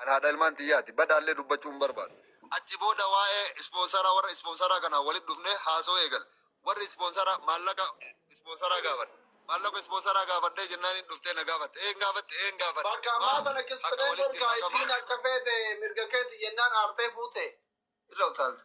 An haadha ilmaan tiyyaati. Badhaallee dubbachuu hin barbaadu. Achi booda waa'ee ispoonsaraa warra ispoonsaraa kanaan walitti dhufnee haasawuu eegalle. Warri ispoonsaraa maallaqa ispoonsaraa gaafadhe. Maallaqa ispoonsaraa gaafadhee jennaaniin dhuftee na gaafatte. Eeyyeen gaafadhe, eeyyeen gaafadhe. Bakka ammaa sana kisfnee jirta. Isiin akka feete mirga keeti jennaan aartee fuute. Irra utaalte.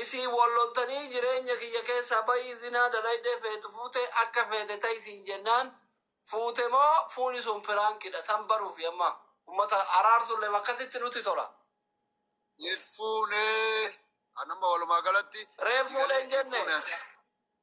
Isin wal loltanii jireenya kiyya keessaa bahi zinaa dalaydee feetu fuute akka feete ta'i siin jennaan fuute moo fuuni sun piraankidha tan baruufi amma ummata araarsullee akkasitti nutti tola. Hin fuune. An amma walumaa galatti Reef fuudhe hin jenne. fuune.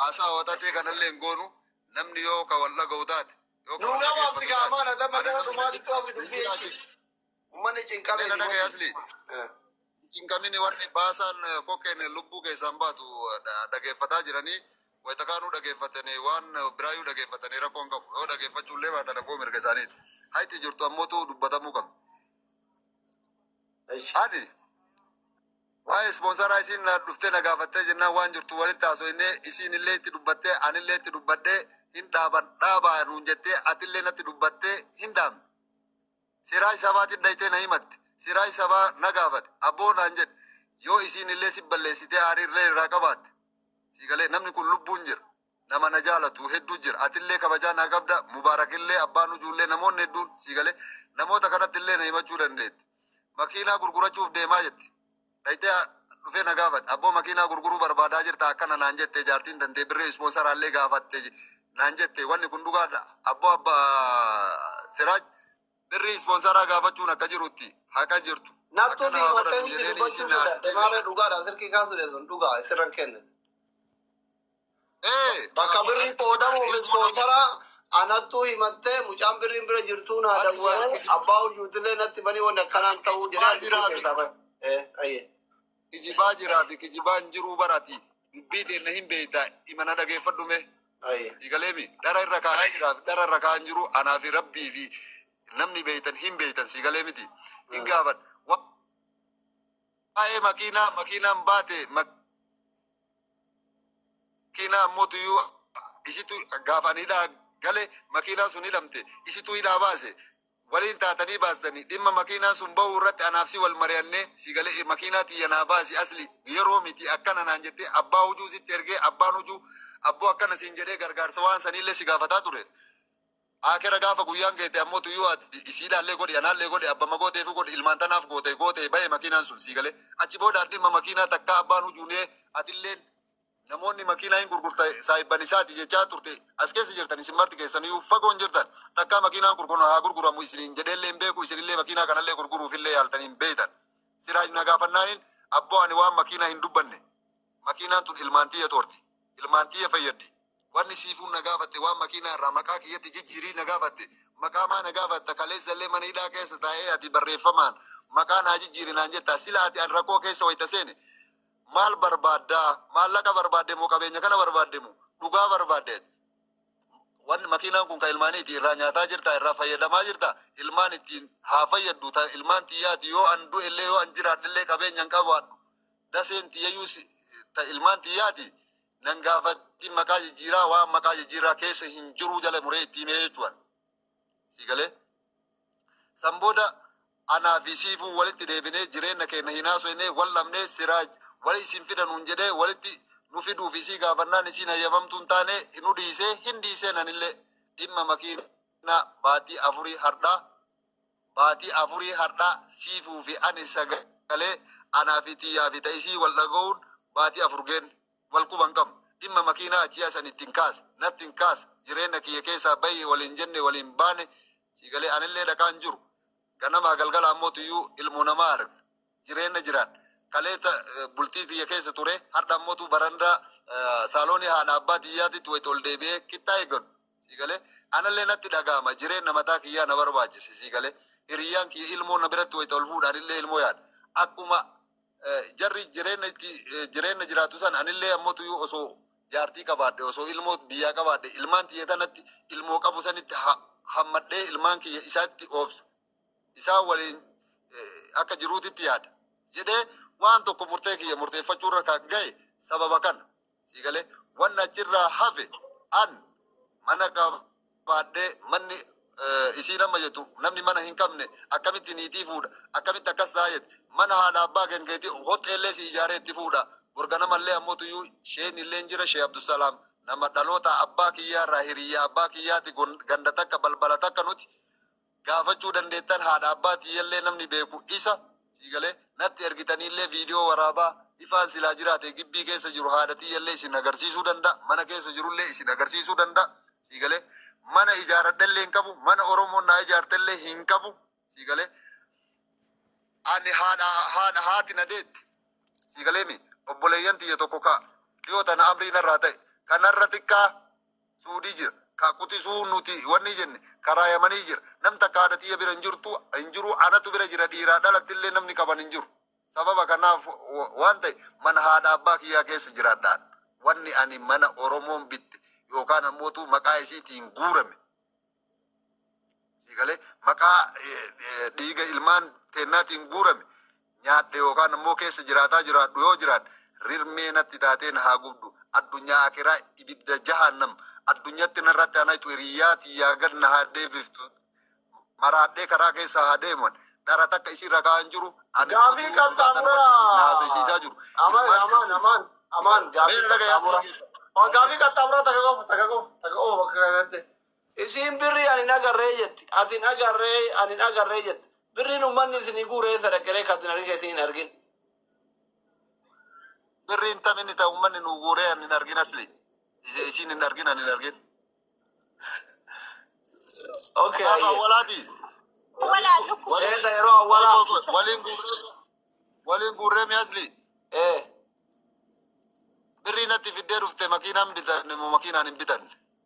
Haasaa waxaxee kanallee hin goonu. Namni yoo ka wal dhaga'u taate. yoo ka Nuu wal gabaabti dhaggeeffatu gaa taate, maana damma ani gara namni dhumaa na xiqqoo fi cinqamu dubbii hin jiraatu. ishii. Ummanni cinqamee Dela dhaga'i asli. Eh. Cinqamini warri baasaan eh, kokkeen lubbuu keessaan baatu eh, dha- dhageeffataa jiranii. Wayita kaanuu dhageeffatanii waan eh, biraayyuu dhageeffatanii rakkoo hin qabu. Yoo dhageeffachuu illee baatan rakkoo mirga isaaniiti. Hayti jirtu ammootu dubbatamuu qabu. Ishi. Ani Waa'ee ispoonsaraa isiin na dhuftee na gaafattee jennaan waan jirtu walitti haasoyne isiin illee itti dubbattee ani illee itti dubbadhee hin dhaaban dhaabaa nuun jettee ati illee natti dubbattee hin dhaabne. Seeraa isaabaatiin dhaytee na himatte. Seeraa isaabaa na gaafate. Abboo naan jedhe. Yoo isiin illee si balleessitee aarii illee irraa qabaatte. Sii galee namni kun lubbuun jira. nama na jaalatu hedduu jira atillee kabajaa naa qabda mubaarakillee abbaa nujuullee namoonni hedduun sii galee namoota kanattillee na himachuu dandeetti makiinaa gurgurachuuf deemaa jetti dhayxee dhufee na gaafate abboo makiinaa gurguruu barbaadaa jirta akkana naan jette jaartiin dandee birree ispoonsaraallee gaafatte naan jette wanni kun dhugaadha abboo abba siraaj birrii ispoonsaraa gaafachuun akka jirutti haqa jirtu Naftuu Akka fi naa godhatu matanni jedheenii dubbachuu isin naa- sodaadhe maarree dhugaadhaan silkii kaasuu dheessuun dhugaa sirran kenne. Ee, bakka birrii qoodamuuf ispoonsara anattuu himattee mucaan birriin bira jirtuu naa dawwalee abbaa hojuutillee natti banii wanni akkanaan ta'uu jedhee argisuu keessaa bahe. Ee, ayyee. Kijibaa jiraa fi kijibaa hin jiruu barati. Dubbii teenna hin beeyta imana dhageeffadhu mee. Ayyee. Eegaleemi dhara irra kaa'aa jiraa fi dhara irra kaa'aa hin jiru anaa fi rabbii fi namni beeytan hin beeytan sii galee miti. Hin gaafadha. Waa'ee makiinaa makiinaan baate mak- makiinaa ammoo tuyuu isitu gaafa ani hidhaa gale makiinaa sun hidhamte isitu hidhaa baase waliin taatanii baastanii dhimma makiinaa sun ba'uu irratti anaaf si wal mari'annee si galee makiinaa tiyya naa baasi asli yeroo miti akkana naan jettee abbaa hujuu sitti ergee abbaan hujuu abboo akkana siin jedhee gargaarsa waan saniillee si gaafataa ture. Aakera gaafa guyyaan geete ammoo tuyuu ati isiidhaallee godhi anaallee godhi abbama gooteefuu godhi ilmaan tanaaf goote gootee bahe makiinaan sun sii galee achi booda ati dhimma makiinaa takkaa abbaan hujuunee atilleen namoonni makiinaa hin gurgurta saahibban isaati jechaa turte as keessa jirtan isin marti keessanuyuu fagoon jirtan takkaa makiinaan kun kun haa gurguramu isiniin jedheellee hin beeku isinillee makiinaa kanallee gurguruufillee yaaltanii hin beeytan siraaj na gaafannaaniin abboo ani waan makiinaa hin dubbanne Makiinaan tun ilmaan tiyya xoorti. Ilmaan tiyya fayyaddi. Wanni Siifuun na gaafatte waan makiinaa irraa maqaa kiyyatti jijjiirii na gaafatte. Maqaa maa na gaafatta? Kaleessa illee mana hidhaa keessa taa'ee ati barreeffamaan maqaa naa jijjiiri naan jetta. Sila ati an rakkoo keessa wayta seene maal barbaadda? Maallaqa barbaadde moo qabeenya kana barbaadde moo dhugaa barbaadde ati? Wanni makiinaan kun kan ilmaaniiti irraa nyaataa jirta irraa fayyadamaa jirta ilmaan ittiin haa fayyaddu ta ilmaan tiyyaati yoo an du'e illee yoo an jiraadhe illee qabeenya hin qabaadhu. daseen tiyyayuu si- ta ilmaan tiyyaati nan gaafatti maqaa jijjiiraa waan maqaa jijjiiraa keessa hin jiruu jala muree itti himee jechuudhaan sii galee san booda anaa fi siifuu walitti deebinee jireenya keenya hin haasofnee wal dhabnee siraaj wali isin fidanuun jedhee walitti nu fiduu fi sii gaafannaan isiin hayyamamtuu hin taane nu dhiisee hin dhiisee nanillee dhimma makiinaa baatii afurii hardhaa Baatii afurii hardhaa siifuu fi ani sagalee anaa fi tiyyaa fi ta isii wal dhaga'uun baatii afur geenne. Wal quba hin qabnu. Dhimma makiinaa ji'a san ittiin kaase. Natti hin kaasne. Jireenna kiyya keessaa bahi waliin jenne waliin baane. Siigalee anillee dhaqaa hin jiru. Ganamaa galgala ammoo tuyyuu ilmoo namaa arga. jireenna jiraan kaleessa eh, bultii tiyya keessa ture har'a ammotu barandaa eh, saaloonii haadha abbaa tiyyaatitti wayita ol deebi'ee kittaa eeggadhu sii galee anallee natti dhaga'ama jireenna mataa kiyyaa na barbaachise sii galee hiriyyaan kiyya ilmoo na biratti wayita ol fuudhaan illee ilmoo yaada akkuma eh, jarri jireenna itti eh, jireenna jiraatu san anillee ammotu yoo osoo jaartii qabaadhe osoo ilmoo biyyaa qabaadhe ilmaan tiyya tanatti ilmoo qabu sanitti ha- hammadhee ilmaan kiyya isaatti oobsa isaan waliin akka jiruutitti yaada jedhee waan tokko murtee kiyya murteeffachuurra kan ga'e sababa kana sii galee waan achirraa hafe an mana qabaadhee manni isiin amma jettu namni mana hin qabne akkamitti niitii fuudha akkamitti akkas ta'a jette mana haadha abbaa kenkeetii hoxxeellee si ijaaree itti fuudha borganamallee ammoo tuyyuu sheen illee jira shee abdusalaam nama dhaloota abbaa kiyyaa irraa hiriyyaa abbaa kiyyaati ganda takka balbala takka nuti gaafachuu dandeettan haadha abbaa tiyyallee namni beeku isa sii galee natti ergitaniillee viidiyoo waraabaa ifaan silaa jiraate gibbii keessa jiru haadha tiyyallee isin agarsiisuu danda'a mana keessa jirullee isin agarsiisuu danda'a sii galee mana ijaaradhellee hin qabu mana oromoon naa ijaartellee hin qabu sii galee ani haadha haadha haati na deetti sii galeemi obboleeyyan tiyya tokko kaa dhiyoo tana amrii narraa ta'e kanarra xiqqaa suudii jira kaa qutisuu nuti wanni jenne karaa yamanii jira nam takka haadha tiyya bira hin jirtu hin jiru anatu bira jira dhiiraa dhalatti illee namni qaban hin jiru sababa kanaaf wa- waan ta'e mana haadha abbaa kiyyaa keessa jiraadhaan wanni ani mana oromoon bitte yookaan ammootu maqaa isiitiin guurame Sii galee maqaa dhiiga ilmaan teennaatiin guurame nyaadhe yookaan ammoo keessa jiraataa jiraadhu yoo jiraadhe rirmee natti taateen haa gubdu addunyaa akiraa ibidda jahannam addunyatti narratti anaytu hiriyyaa tiyyaa gad na haa deebiftu maraadhee karaa keessa haa deeman dhara takka isii rakaa hin jiru ani Gaafii hojii kan dhugaa tanuma taamura. wajjin na haasofsiisaa jiru Amaan, Ilmaan amaan, amaan, amaan. Gaafii Meera dhagaa kan taamura. yaasii. Oh, gaafii kan taamura takka qofa, takka qofa, takka qofa bakka kanatti. Isiin birrii ani hin agarree jetti, ati hin agarree, ani hin agarree jetta. Birriin ummanni isinii guure eessa dhaqe ree ka ati hin argin ka isiin hin argin? Birriin tam inni ta ummanni nuu guuree ani hin argin asli? Isi- Isiin hin argin ani hin argin. Okay, Gaafa ayyee. awwalaati. Walaa lukku. Waliin- Seeta yeroo awwalaa. Qoy, qoy, qoy. Waliin guurree waliin guurree mi asli? Eh, Birrii natti fiddee dhufte makiinaan bitanne moo makiinaan hin bitanne?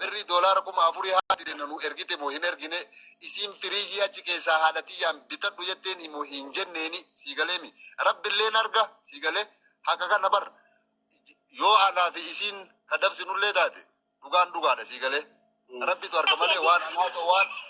Birrii doolaara kuma afurii haati teenna nuu ergite moo hin ergine? Isiin firiijii achi keessaa haadha tiyyaan bitadhu jetteeni moo hin jenneeni? Sii galeemi? Rabbi illeen arga. Sii galee? Haqa kana bar yoo anaa fi isiin ka dabsinullee taate dhugaan dhugaadha. Sii galee? Rabbitu arga Ati malee waan an eeyyee haasa'u waan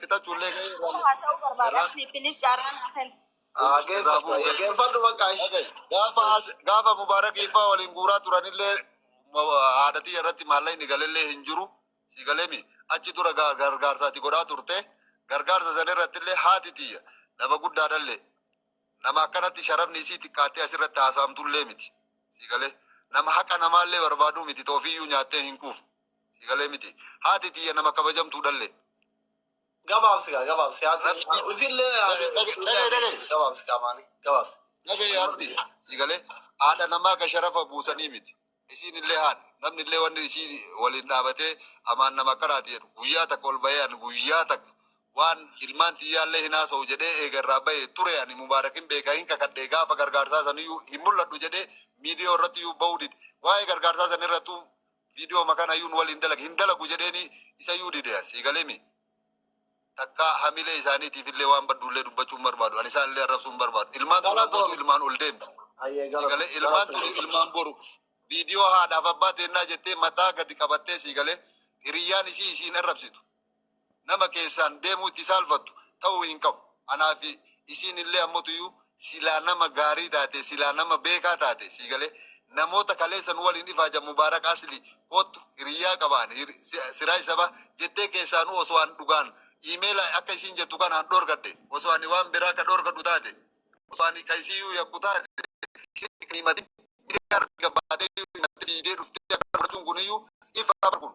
Fixachuu illee gahee irraa Osoo haasa'uu irraa barbaadamti pilis carraan haa kennu. haa irraa bu'u. geeffadhu geeffadhu bakka Okay. ishee. Gaafa as- gaafa Mubaarak Iffaa waliin guuraa turanillee ma- haadhatii irratti maallaqni galellee hin jiru. Si galemi achi dura gar- gargaarsa ati godhaa turte. Gargaarsa sana irratti illee haati tiyya nama guddaadhallee nama akkanatti sharafni isii xiqqaattee asirratti haasa'amtullee miti. Si galee nama haqa namaallee barbaaduu miti toofiyyuu nyaattee hin quufne. Si galee miti. Haati tiyya nama kabajamtuu dhalle. Gabaabsi gaa gabaabsi haati Rabbi- usillee Rabbi- Rabbi- Rabbi- Rabbi- gabaabsi qaamaani gabaabsi. Dhabe yaasni. Si galee haadha namaa ka sharafa buusanii miti. Isiin illee haadha. Namni illee wanni isii waliin dhaabatee amaan nama akkanaati jedhu. Guyyaa takka ol bahee ani guyyaa takka waan ilmaan tiyyaallee hin haasa'u jedhee eegarraa bahee ture ani mubaarakin beekaa hin kakadhee gaafa gargaarsaa saniyyuu hin mul'adhu jedhee miidiyoo irratti iyyuu bahuu dide. Waa'ee gargaarsaa sanirrattuu Video ma kana yuu nu waliin dalagi hin dalagu jedheeni isa yuu dide an sii galee mii takka hamilee isaaniitiif illee waan badduullee dubbachuu hin barbaadu ani isaan illee arrabsuu hin barbaadu ilmaan tun Galatoomi. abbootu ilmaan ol deemti Ayyee sii galatoomi. galee ilmaan tun Galatoomi. ilmaan boru viidiyoo haadhaaf abbaa teennaa jettee mataa gadi qabattee sii galee hiriyyaan isii isiin arrabsitu nama keessaan deemuu itti saalfattu ta'uu hin qabu. Anaa fi isiin illee ammatuyyuu silaa nama gaarii taatee, silaa nama beekaa taatee, sii galee? Namoota kaleessa nu waliin ifaajan Mubaarak Aslii koottu hiriyyaa qaba ani, hir- si- siraaj sabaa jettee keessaanuu osoo an dhugaan iimeela akka isiin jettu kanaan dhorgadhe, osoo ani waan biraa ka dhorgadhu taate, osoo ani ka isiiyyuu yakku taate, isiin kan himatin miidiyaa irratti gabbaatee iyyuu himattee fiigdee dhuftee akka fudhachuun kuniyyuu ifa bar kun.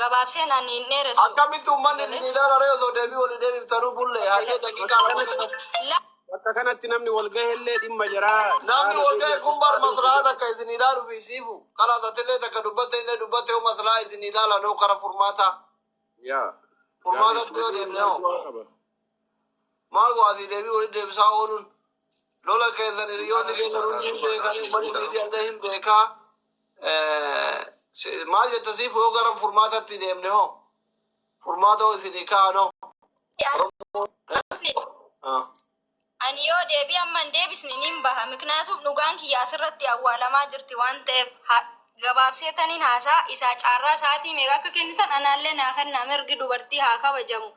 Gabaabseen ani hin dheeressu. Akkamitti uummanni isin Ijoollee. ilaala ree osoo deebii walii deebiftanuu bullee hayyee daqiiqaa lama qofa. La. Bakka kanatti namni wal gahellee dhimma jaraa Namni jaraana wal ga'e kun bar deebi'ee maslahaa takka isin ilaaluuf isiifu. Kalaas atillee takka dubbatte illee dubbatte yoo maslahaa isin ilaalan hoo kara furmaataa. yaa Furmaatatti yoo deemne hoo. qaba. Maal go'aati deebii walitti deebisaa ooluun? Lola keessan hiriyoonni keessan hundi hin beekan, uummanni miidiyaa illee hin beeka. Eh, si- Maal jetta siif yoo gara furmaatatti deemne hoo? Furmaata hoo isinii kaa'an hoo? Oromoo. eh, ah. Ani yoo deebii amma hin deebisne niin baha. Miknyaatuuf dhugaan kiyya asirratti awwaalamaa jirti waan ta'eef ha- gabaabsee taniin haasaa isaa caarraa sa'aatii meeqa akka kennitan anaallee naa kennaa mirgi dubartii haa kabajamu.